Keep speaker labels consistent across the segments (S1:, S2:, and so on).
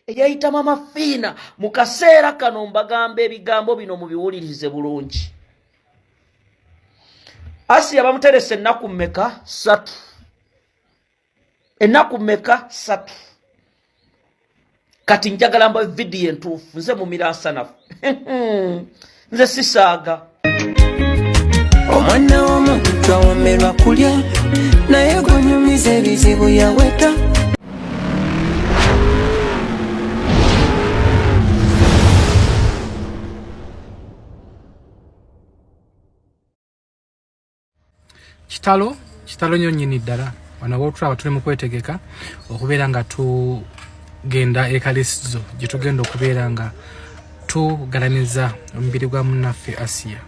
S1: eyayita mama fiina mu kaseera kano mbagamba ebigambo bino mubiwulirize bulungi asiya bamuteresa ennaku mmeka satu enaku meka satu kati njagala mba vidiyo entuufu nze mumira nsanafu nze sisaaga
S2: omwana womuntu twawomerwa kulya naye gwenyumiza ebizibu yaweta kitalo kitalo nyo nyini ddala wano wotulaba tuli mu kwetegeka okubeera nga tugenda ekalisizo gye tugenda okubeera nga tugalaniza omubiri gwa munnaffe asiya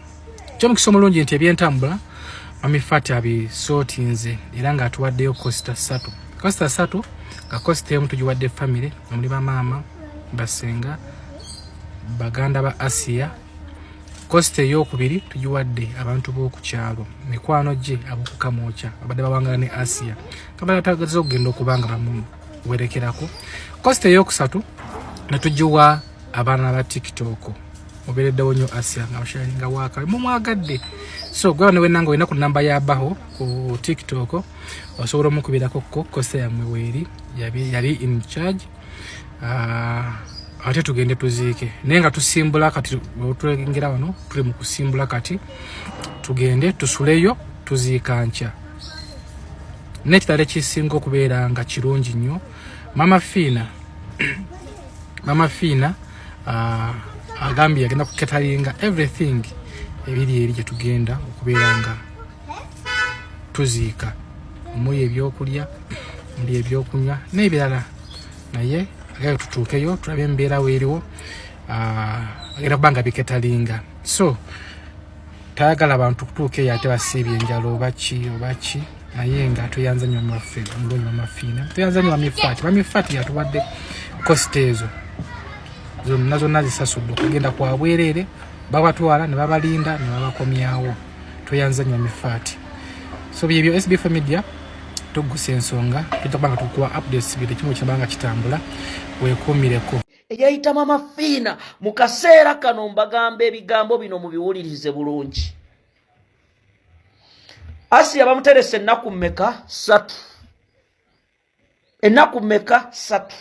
S2: kyomukisa omulungi nti ebyentambula mamifati abisootinze era nga atuwaddeyo kosita satu kosita satu nga kosita emu tugiwadde famire omuli bamaama basenga baganda ba asiya kosita eyokubiri tugiwadde abantu b'oku kyalo mikwano gye abokukamwokya abadde bawangala ne asiya kabala tagaza okugenda okuba nga bamuwerekerako kosita eyokusatu netugiwa abaana ba tiktok obereddewo nyo asiya nga basharinga wakabe mumwagadde so gwaba newenanga olina ku namba ya baho ku tiktok osobola omukubirako ko kosita yamwe weeri yali in charge ah, ate tugende tuziike naye nga tusimbula kati otulengera wano tuli mu kusimbula kati tugende tusuleyo tuziika nkya nekitala ekisinga okubeera nga kirungi nnyo mama fiina mama fiina ah, agambye agenda kuketalinga everything ebiri eri gyetugenda okubeera nga tuziika omuli ebyokulya muli ebyokunywa n'ebirala naye agenda tutuukeyo tulabe embeera weeriwo ah, agenda kuba nga biketalinga so tayagala bantu kutuuka eyo ate basiibye enjala obaki obaki naye nga tweyanzanyo maffe omulungi wamafiina tweyanzanyo bamifaati bamifaati yatuwadde kosita ezo zonna zonna zisasudde okugenda kwabwereere babatwala ne babalinda ne babakomyawo tweyanza nnyo mifaati so byebyo sbf media tuggusa ensonga tujja kubanga tukuwa updates buli kimu kyabanga kitambula weekuumireko eyayita mama
S1: fiina mu kaseera kano mbagamba ebigambo bino mubiwulirize bulungi asiya bamuterese ennaku mmeka satu enaku meka satu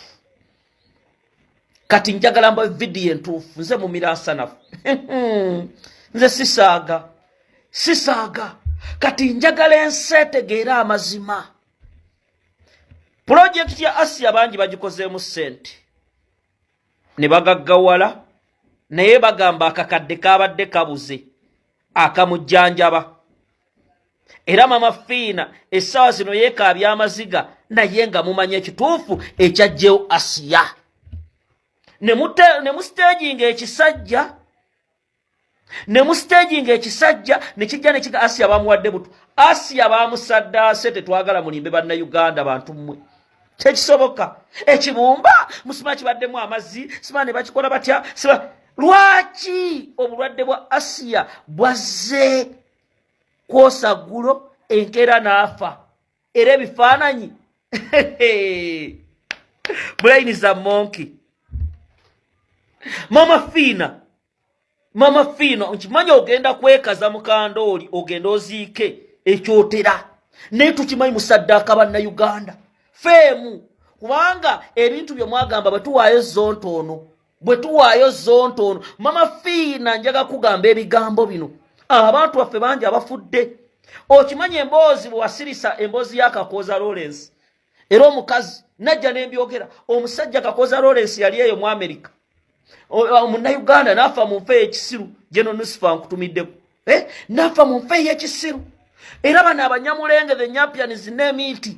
S1: kati njagala mba vidiyo entuufu nze mumiransanafu nze sisaaga sisaaga kati njagala ensi etegeera amazima pulojekiti ya asiya bangi bagikozeemu ssente ne bagaggawala naye bagamba akakadde kabadde kabuze akamujjanjaba era mama fiina essaawa zino yeekaabya amaziga naye nga mumanya ekituufu ekyajjewo asiya ne musiteejinga ekisajja ne mu stage nga ekisajja ne kijja ne kiga Asia bamuwadde butu Asia bamusaddaase tetwagala mulimbe banna Uganda bantu mmwe tekisoboka ekibumba musima kibaddemu amazzi sima ne bakikola batya sima lwaki obulwadde bwa Asia bwazze kwosa ggulo enkeera n'afa era ebifaananyi bulayini za monki mama fiina mama fiina nkimanyi ogenda kwekaza mukandooli ogenda oziike ekyotera naye tukimanyi musaddaaka bannayuganda feemu kubanga ebintu bye mwagamba bwe tuwaayo zonto ono bwe tuwaayo zonto ono mama fiina njaga kugamba ebigambo bino abantu baffe bangi abafudde okimanyi emboozi bwewasirisa emboozi ya kakooza lawrence era omukazi najja nembyogera omusajja kakooza lawrence yali eyo mu amerika munauganda nafa mu nfa eyekisiru geno nusifa nkutumiddeko eh? nafa mu nfa eyekisiru era bano abanyamulenge the nyampians n'emiiti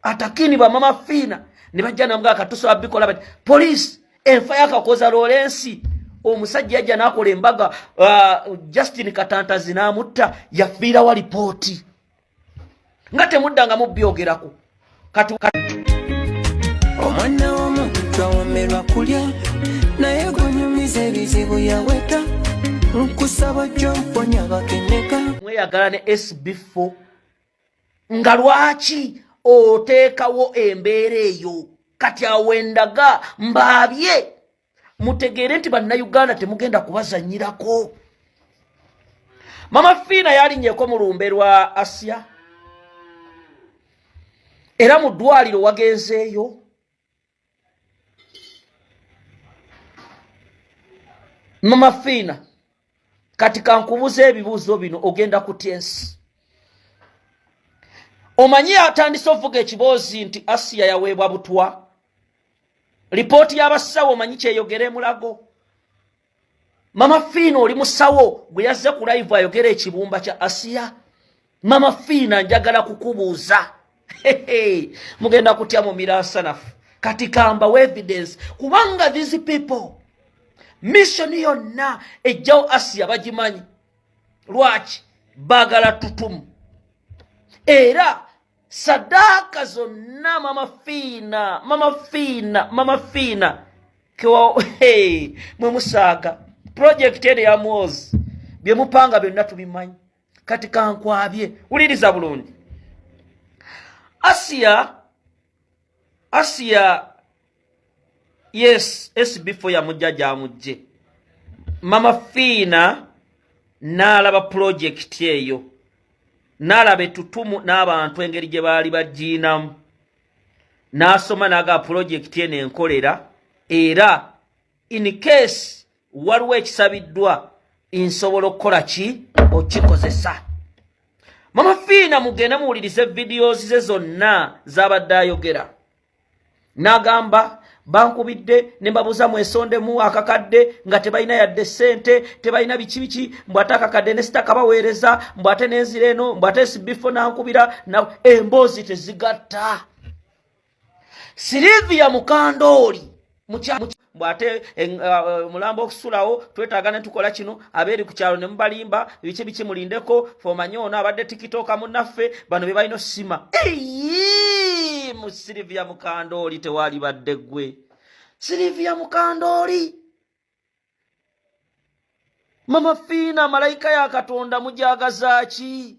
S1: atakini bamama fiina ne bajja namuga katusa abikola bati poliisi enfa yakakoza loolensi omusajja yajja nakola embaga uh, justin katantazi namutta yafiirawa lipooti nga temuddanga mubyogerako
S2: omwana womu twawomerwa kulya naye gunyumiza ebizibu yaweta nkusaba jomponya bakeneka mweyagala ne
S1: sb4 nga lwaki oteekawo embeera eyo kati awo endaga mbaabye mutegeere nti bannayuganda temugenda kubazanyirako mama fiina yalinyeko mu lumbe lwa asiya era mu ddwaliro wagenzeeyo Mama Fina, kati kankubuza ebibuuzo bino ogenda kutya ensi omanyi atandise ovuga ekiboozi nti asiya yaweebwa butwa lipooti y'abasawo omanyi kyeyogera emulago mama fiina oli musawo gwe yazze ku live ayogera ekibumba kya asiya mama fiina njagala kukubuuza mugenda kutya mu miransanafu kati kambawo evidence kubanga these people missoni yonna ejjawo asiya bagimanyi lwaki bagala tutumu era sadaaka zonna mama fiina mama fiina mama fiina kewa hey, mwe musaaga pulojekiti eno ya mwozi bye mupanga byonna tubimanyi kati kankwabye wuliriza bulungi asiya Asia yes SB4 yamujja gyamujje mama Fiina n'alaba pulojekiti eyo n'alaba ettutumu n'abantu engeri gye baali bagiinamu n'asoma n'aga pulojekiti eno enkolera era in case waliwo ekisabiddwa nsobola okukola ki okikozesa mama fiina mugende muwulirize videos ze zonna zabadde ayogera n'agamba bankubidde ne mbabuuza mwesondemu akakadde nga tebalina yadde ssente tebalina biki biki mbw ate akakadde ne sitakabaweereza mbw ate nenzira eno mbw ate sibifo nankubira emboozi tezigatta Sylvia Mukandooli mbu ate eh, eh, omulambo okusulawo twetaaga ne tukola kino abeeri ku kyalo ne mubalimba biki biki mulindeko fomanye ono abadde tikitooka munnaffe bano be balina osima mu Sylvia Mukandooli tewaali badde ggwe Sylvia Mukandooli mama fiina malayika ya katonda mujagazaaki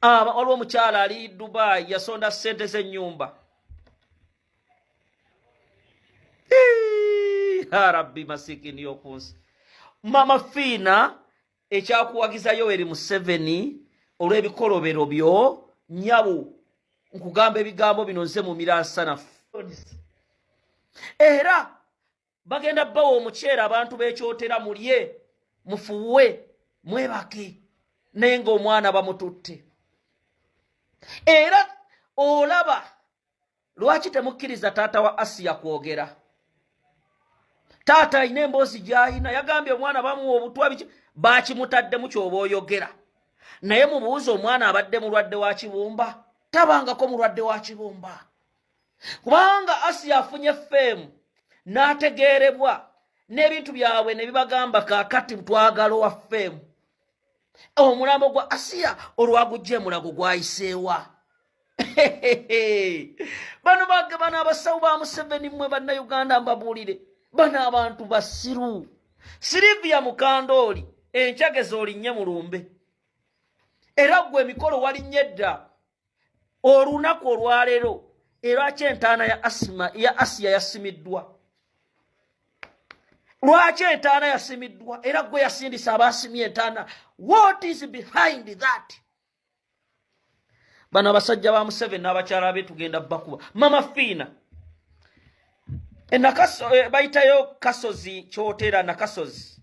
S1: aba waliwo omukyala ali dubai yasonda sente zenyumba yarabbi masikini yokunsi mama fiina ekyakuwagiza yoweri museveni olw'ebikolobero byo nyabo nkugamba ebigambo bino nze mumira nsanafu era bagenda bawa omuceere abantu bekyotera mulye mufuuwe mwebake naye ngaomwana bamututte era olaba lwaki temukkiriza taata wa asiya kwogera taata alina emboozi gyalina yagambye omwana bamuwa obutwa biki bakimutaddemu kyoba oyogera naye mubuuza omwana abadde mulwadde wa kibumba tabangako mulwadde wa kibumba kubanga asiya afunye feemu n'ategeerebwa n'ebintu byabwe ne bibagamba kakati twagala owa feemu omulambo gwa asiya olwagujja emulago gwayiseewa bano bagabana abasawo ba museveni mwe bannayuganda mbabuulire bano abantu basiru sirivia mukandooli enkyageza olinnye mulumbe era gwe emikolo walinnye dda olunaku olwaleero erwaki entaana ya asima ya asiya yasimiddwa lwaki entaana yasimiddwa era gwe yasindisa abaasimye entaana what is behind that bano abasajja ba museveni n'abakyala be tugenda bakuba mama fiina enakaso eh, bayitayo kasozi kyotera nakasozi